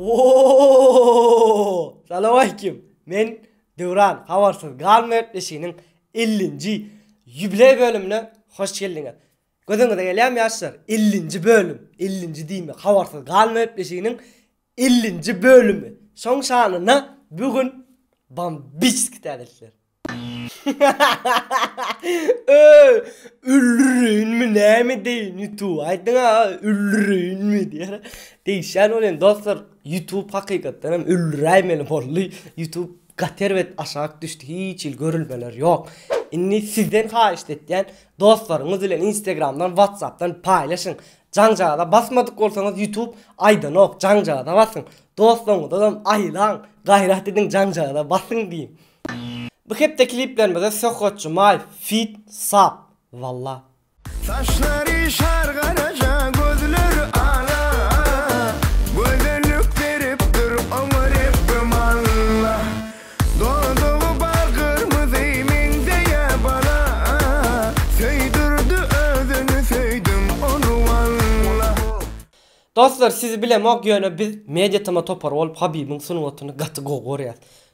Oooooo Salawaleýkim men Döwran habarsyz galma gepleşiginiň ellinji ýubileý bölümine hoş geldiňiz. Gözüňize gelýärmi ýaşlar ellinji bölüm ellinji diýme habarsyz galma gepleşiginiň ellinji bölümi şoň şanyna bu gün bambiçski täzelikler. Öööö öldüreýinmi näme edeýin youtube aýdyň aga öldüreýinmi diýýär degişýän bolýan dostlar youtube hakykatdan hem öldüräýmeli boldy youtube gaty erbet aşak düşdi hiç hili görülmeler ýok indi sizden haýyşt etýän dostlaryňyz bilen instagramdan whatsappdan paýlaşyň jaňjaga basmadyk bolsaňyz youtube aýdanok jaňjaga basyň dostlaryňyzam aýlaň gaýrat ediň jaňjaga basyň diýiň Bu hepde kliplerimize Söhbet Jumaýew feat sap walla. Saçlary şar garaja gözleri ala Gözellik berip dur oňa Rebbim Alla Dodugy bal gyrmyzy meňzeýä bala Söýdürdi özüni söýdüm ony walla. Dostlar sizi bilemok ýöne biz Media Tama topary bolup Habibiň sungatyny gaty gowy görýäs.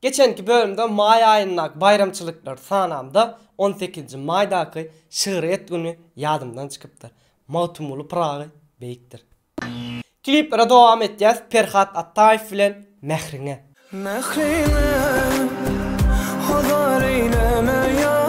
Geçenki bölümde maý aýyndaky baýramçylyklary sanamda on sekizinji maýdaky şygryýet güni ýadymdan çykypdyr. Magtymguly Pyragy beýikdir. Kliplere dowam etýäs Perhat Ataýew bilen Mähriňe. Mähriňe hazar eýleme ýar.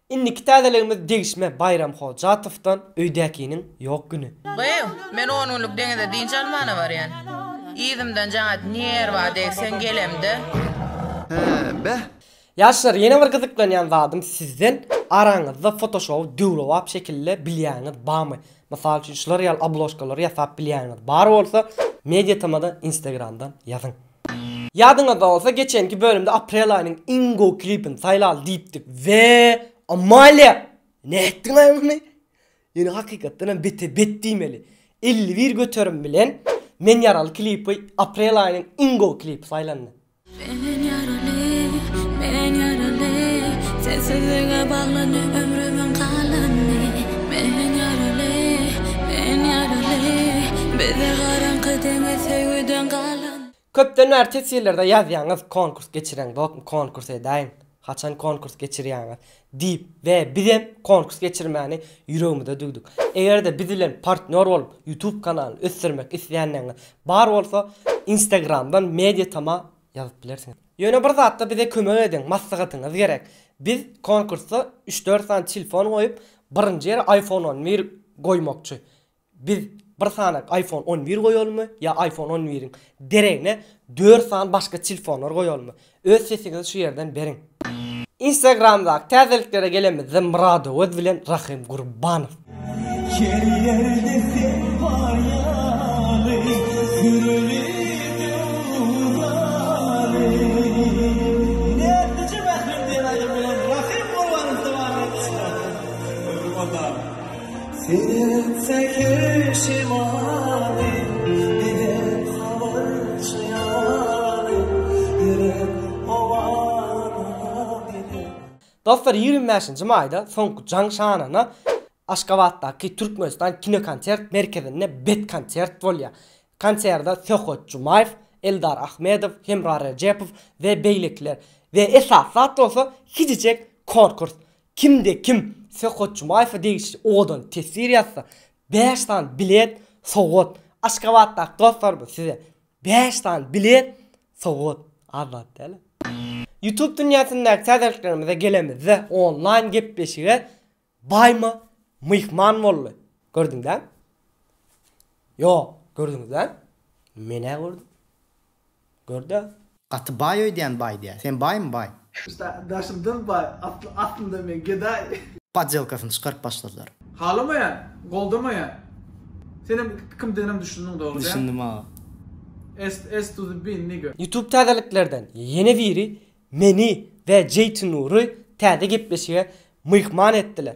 Indiki täzeligimiz degişme Baýram Hojatowdan Öýdäkiniň ýok güni. Gyz, men on günlük deňize dynç almana barýan. Yzymdan jaň at, nirba degseň gelemde. Hä, beh! Ýaşlar, ýene bir gyzyklanýan zadym sizden, araňyzda fotoşowy döwrebap şekilde bilýäniňiz barmy? Mysal üçin, şular ýaly obložkalary ýasap bilýäniňiz bar bolsa, mediatamada instagramdan ýazyň. Ýadyňyzda bolsa geçenki bölümde aprel aýynyň iň gowy klipini saýlaly diýipdik we Amalia! Nätdiňaý muny? Ýöne hakykatdan hem bete bet diýmeli. Elli bir göterim bilen Men ýaraly klipi aprel aýynyň iň gowy klipi saýlandy. Men ýaraly, men ýaraly, Sensizlige baglany ömrümiň galany, Men ýaraly, men ýaraly, Bize garaňky deňiz söýgüden galany. Köpden bäri teswirlerde ýazýaňyz konkurs geçireň bokmy konkurs edäýiň haçan konkurs geçirýäňiz diýip we bizem konkurs geçirmäni ýüregimize düwdük egerde biz bilen partnýor bolup ýutub kanalyny ösdürmek isleýänleňiz bar bolsa instagramdan mediatama ýazyp bilersiňiz. Ýöne bir zatda bize kömek ediň maslahatyňyz gerek biz konkursda üç dört sany tilfon goýup birinji ýere iphone on bir goýmakçy Biz bir sany iPhone on bir goýalymy ýa iPhone on biriň deregine dört sany başga tilfonlar goýalymy? Öz sesiňizi şu ýerden beriň. Instagramdaky täzeliklere gelemizde Murad Öwez bilen Rahym Gurbanow. Her ýerde sen bar ýaly, sürüli Dostlar ýigrimi bäşinji maýda soňky jaň şanyna Aşgabatdaky Türkmenistan kinokonsert merkezinde bet konsert bolýar. Konserde Söhbet Jumaýew, Eldar Ahmedow, Hemra Rejepow we beýlekiler we esasy zat bolsa hijijeň konkurs. Kimde-kim Söhbet Jumaýewe degişli owadan teswir ýazsa, bäş sany bilet sowgat! Aşgabatdaky dostlarymyz size bäş sany bilet sowgat! Az zat däl-ä. Youtube dünýäsindäki täzeliklerimize gelemizde, onlaýn gepleşige Baýma myhman boldy. Gördüňizlämi? Ýok, gördüňizlämi? Men-ä gördüm. Görde. Gaty baý öýdýän baý diýä. Sen baýmy baý. Usta daşyndan baý atly aslynda men gedaý. Podjelkasyny çykaryp başladylar. Halamaýan, goldamaýan. Senem ikimizdenem düşündiň dogry däl. Düşündim aga. S S to the bin nigga. Youtube täzeliklerden ýene biri meni we Jeytinury täze gepleşige myhman etdiler.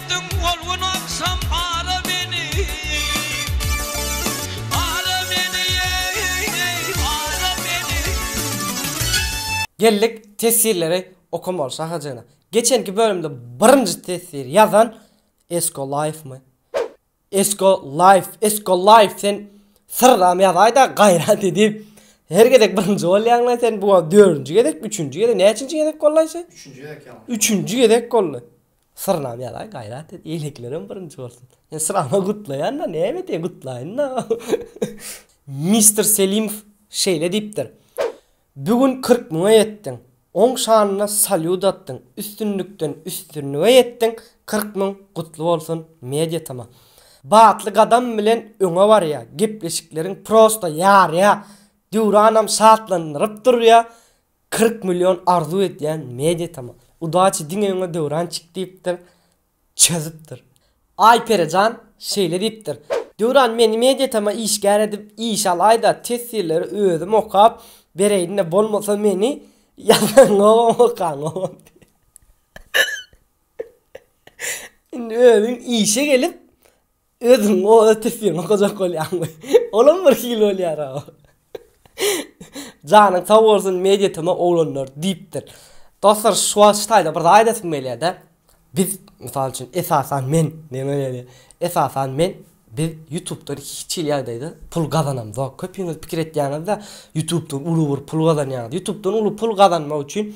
Etdiň ol gün agşam ara meni, ara meni, eý, eý, ara meni. Geldik tesirleri okamaly şaha jana. Geçenki bölümde birinji tesiri ýazan Esko Life my? Esko Laýf Esko Laýf sen syrdam ýazaýda gaýrat edip her gezek birinji bolýaňlaý sen bu wagt dördünji gezek üçünji gezek näçinji gezek bollaý sen Üçünji gezek ýalňyş üçünji gezek boldy syrdam ýazaý gaýrat et eýlekilerem birinji bolsun sen syrama gutlaýanda näme edýä gutlaýynda Mister Selimow şeýle diýipdir Bu gün kyrk müňe ýetdiň. Oň şanyna salýut atdyň, üstünlikden üstünlige ýetdiň, kyrk müň gutly bolsun media tma. Batly gadam bilen öňe barýa, gepleşikleriň prosta ýarýa, Döwranam şatlandyryp durýa, kyrk million arzuw edýän media tma. Udaçi diňe öňe Döwrançik diýipdir. çözüpdir. Aýperi jan şeýle diýipdir, Döwran meni mediatama işgär edip işe alaýda testirleri özüm okap bereýin-de bolmasa meni ýazanogam okanogam diýip indi özüň işe gelip Özüň o ötüsini gojak bolýaňmy? Olam bir hili bolýara. Janyň sag bolsun media tma oglanlar diýipdir. Dostlar şu wagt şu taýda bir zat aýdasym gelýärde. Biz mysal üçin esasan men men öýle esasan men biz ýutubdan hiç hili ýagdaýda pul gazanamzok. Köpüňiz pikir etýäňizde ýutubdan uly bir pul gazanýaňyz. Ýutubdan uly pul gazanmak üçin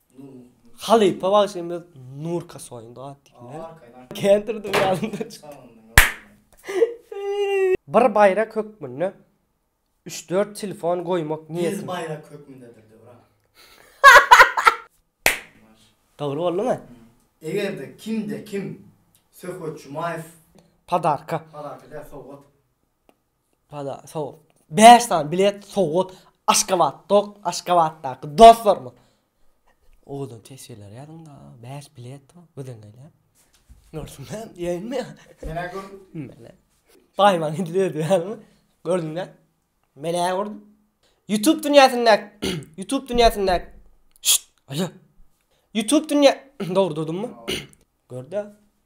Halypa bagşymyz Nurka soýundy at diýmek. Kendir dünýämde Bir baýrak hökmünde üç-dört telefon goýmak niýetim. Bir baýrak hökmündedir Döwran. Dogry boldumy? Eger-de kimde-kim Söhbet Jumaýew. Podarka. Podarka däl, sowgat. Bana sowgat. Bäş sany bilet sowgat Aşgabatda Aşgabatdaky dostlarymyz. Owadan teswirler ýazyňda. Bäş bilet gözeňeýle. Görsünler diýenmi? Menä gör. Menä. Baýman edil özi ýalymy? Gördüňdä? Menä gördüm. YouTube dünýäsinde YouTube dünýäsinde Şşt, alo. YouTube dünýä Dogry durdummy? Gör-dä.